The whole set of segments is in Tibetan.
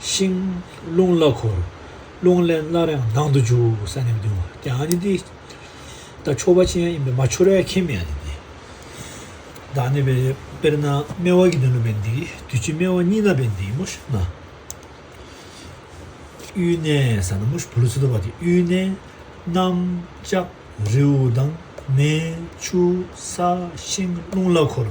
ཤིང། རླུང་བླ་འཁོར། རླུང་ལས་སྣ་རེངས་ལྡང་དུ་འཇུག་ས་ནི་བདུན་བ་དེ་ཨ་ནི་ཏི། ད་ཕྱོགས་པ་ཅན་ཡིན་པས་མ་འཆོར་བས་ཁེ་མི་ཨ་ནི་ཏི། བདག་ནི་བའི་དཔེར་ན་སྨེ་བ་གི་དོན་ནོ་བས་འདི་དུས་ཕྱི་སྨེ་བ་གཉིས་ན་བས་འདི་མོ་ཤི་ན། གཡུལ་གནས་ས་ན་མོ་ཤི་བུ་ལོ་ཚི་དོ་བ་དེ་གཡུལ་གནས། གནམ། ལྕགས། རེའུ། དང། མེ། ཆུ། ས། ཤིང། རླུང་བླ་འཁོར།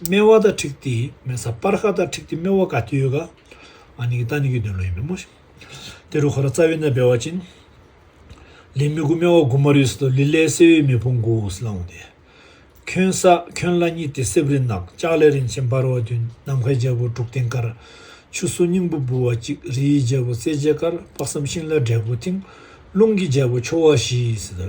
སྨེ་བ་དང་ཁྲིག་ཏི་སྨེ་ས་སྤར་ཁ་དང་ཁྲིག་ཏི་སྨེ་བ་ག་ཏི་ཡོད་ག་ཨ་ནི་གི་ཏཱ་ནི་གི་དོན་ལོ་ཡིན་པའི་མོ་ཏི་རུ་ཁ་ར་རྩ་བའི་ནད་བེ་བ་ཅིན་ལི་མི་གུ་སྨེ་བ་གུ་མ་རུས་ཏོ་ལི་ལའི་སེ་བའི་མི་ཕུང་གུ་ཨུ་སི་ལང་བུ་ཏི་ཁྱོན་ས་ཁྱོན་ལ་གཉིས་ཏི་སེབ་རི་ནག་ལྕགས་ལས་རིན་ཆེན་འབར་བ་བདུན་ནམ་མཁའི་རྒྱལ་པོ་འབྲུག་སྟེང་དཀར་ཆུ་སོ་སྙིང་པོ་འབུལ་བ་གཅིག་རི་ཡི་རྒྱལ་པོ་རྩེ་རྒྱལ་དཀར་དཔག་བསམ་ཤིང་ལ་འབྲས་བུ་མཐིང་རླུང་གི་རྒྱལ་པོ་ཆོ་བ་བཞི་ཡི་སི་ཏུ